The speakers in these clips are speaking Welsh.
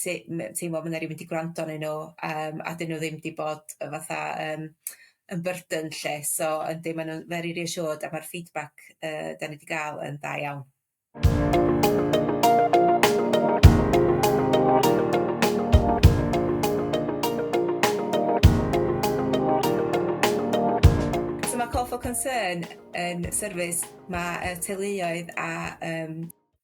sy- m- yn teimlo ma' 'na rywun 'di gwrando arnyn nw yym a 'dyn nw ddim 'di bod yy fatha yym yn burden 'lly so yndi ma' nw'n very reassured a ma'r feedback yy 'dan ni 'di ga'l yn dda iawn. So ma' call for concern yn service ma' yy teuluoedd a yym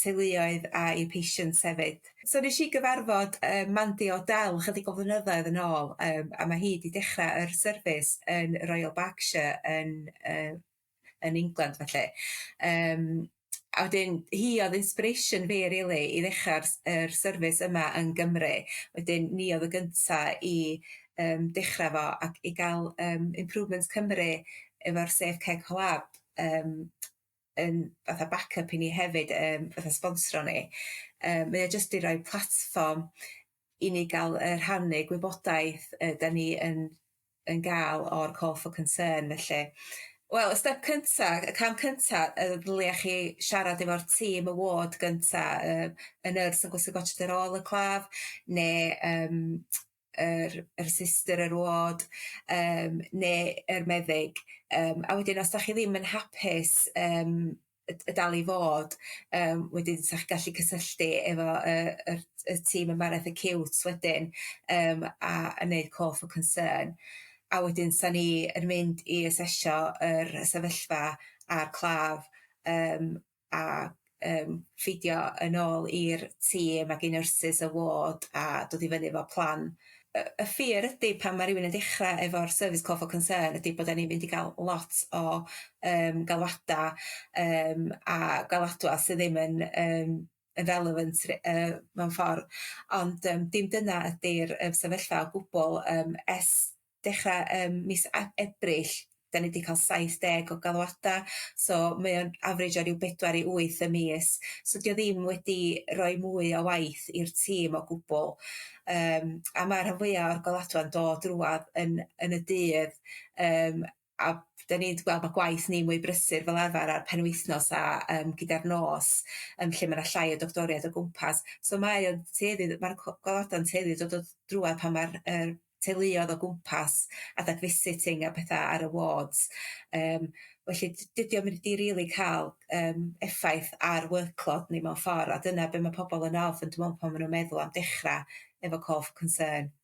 teuluoedd a'u patients hefyd. So nesh i gyfarfod yy Mandy O'Dell chydig o flynyddoedd yn ôl yym a ma' hi 'di dechra yr service yn Royal Berkshire yn yy yn England felly yym a wedyn hi o'dd inspiration fi rili i ddechra'r s- yr service yma yn Gymru wedyn ni o'dd y gynta i yym dechra fo ac i ga'l yym Improvements Cymru efo'r Safe Ceg Lab yym yn fatha back up i ni hefyd yym fatha sbonsro ni yy mae o jyst i roi platfform i ni ga'l yy rhannu gwybodaeth yy 'dan ni yn yn ga'l o'r call for concern felly wel y step cynta y cam cynta yy ddylia chi siarad efo'r tîm y ward gynta yy y nyrs yn gwisgo gorset ar ôl y claf ne' yym yr yr sister yr ward yym ne' yr meddyg yym a wedyn os 'dach chi ddim yn hapus yym y d- y dal i fod yym wedyn 'sach gallu cysylltu efo yy yr y tîm ymbarel fatha ciwt wedyn yym a a neud call for concern a wedyn 'sa ni yn mynd i asesio yr y sefyllfa a'r claf yym a yym ffitio yn ôl i'r tîm ag i nyrsys y ward a dod i fyny efo plan yy y ffi'r ydi pan ma' rywun yn dechra efo'r service call for concern ydi bod 'dan ni'n mynd i ga'l lot o yym galwada yym a galadwa sy ddim yn yym yn relevant ry- yy mewn ffor ond yym dim dyna ydi'r yym sefyllfa o gwbwl yym es dechra ym mis A- Ebrill 'dan ni 'di ca'l saith deg o galwada so mae o'n average o ryw bedwar i wyth y mis so 'di o ddim wedi roi mwy o waith i'r tîm o gwbwl yym a ma' rhan fwya o'r golada'n dod rŵan yn yn y dydd yym a 'dan ni'n gweld bo' gwaith ni'n mwy brysur fel arfar ar penwythnos a yym gyda'r nos yym lle ma' 'na llai o doctoriaid o gwmpas so mae o'n tueddu i ma'r co- goddorda'n tueddu i dod o drwadd pan ma'r yym teuluodd o gwmpas adag visiting a petha ar y wards yym felly d- dydi o ddim 'di rili ca'l yym effaith ar workload ni mewn ffor a dyna be' ma' pobol yn ofn dwi me'wl pan ma' nw'n meddwl am dechra efo call for concern.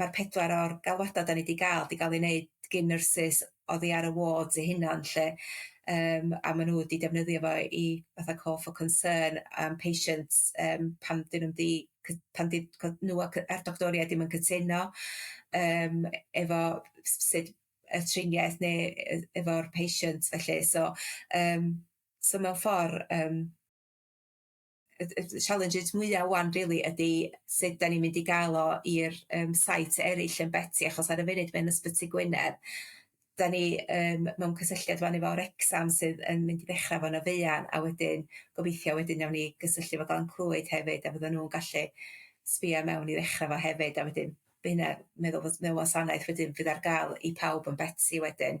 ma'r pedwar o'r galwada' 'dan ni 'di ga'l 'di ga'l eu neud gin nyrsys oddi ar y wards eu hunan lly yym a ma' nw 'di defnyddio fo i fatha call for concern am patients yym pan 'dyn nw'm 'di cy- pan 'di co- nw a cy- a'r doctoriaid dim yn cytuno yym efo s- sud y triniaeth ne' yy efo'r patient felly so yym so mewn ffor yym y y y challenges mwya ŵan rili ydi sud 'dan ni'n mynd i ga'l o i'r yym sites eryll yn Betsi achos ar y funud mae yn Ysbyty Gwynedd 'dan ni yym mewn cysylltiad ŵan efo Wrecsam sydd yn mynd i ddechra fo yn y fuan a wedyn gobeithio wedyn nawn ni gysylltu efo Glan Clwyd hefyd a fyddan nw'n gallu sbïo i mewn i ddechra fo hefyd a wedyn by' hynna meddwl fod mewn wasanaeth wedyn fydd ar ga'l i pawb yn Betsi wedyn.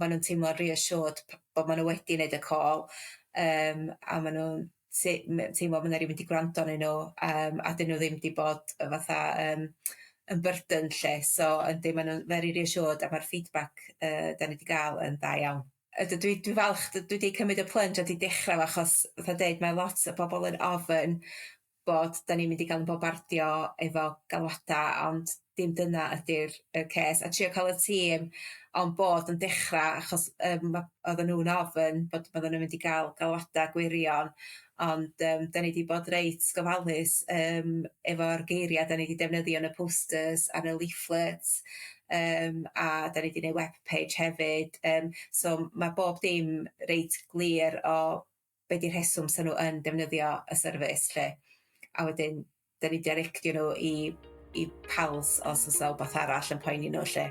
ma' nw'n teimlo'n reassured p- bo' ma' n'w wedi neud y call yym a ma' nw'n se- me- teimlo ma' 'na rywun 'di gwrando arnyn n'w yym a 'dyn n'w ddim 'di bod yy fatha yym yn burden lly so yndi ma' nw'n very reassured a ma'r feedback yy 'dan ni 'di ga'l yn dda iawn. A d- dwi dwi falch d- dwi 'di cymyd y plunge a 'di dechra fo achos fatha deud ma' lot o bobol yn ofyn bod 'dan ni'n mynd i ga'l 'yn bombardio efo galwada ond dim dyna ydi'r y cês a trio ca'l y tîm on board yn dechra achos yym ma' oddan nw'n ofyn bod oddan nw'n mynd i ga'l galwada gwirion ond yym 'dan ni 'di bod reit gofalus yym efo'r geiria' 'dan ni 'di defnyddio yn y posters ar y leaflets yym a 'dan ni 'di neu' web page hefyd yym so ma' bob dim reit glir o be 'di rheswm 'sa nw yn defnyddio y service 'lly a wedyn 'dan ni'n deriectio nw i i Pals os o's 'na wbath arall yn poeni nw 'lly.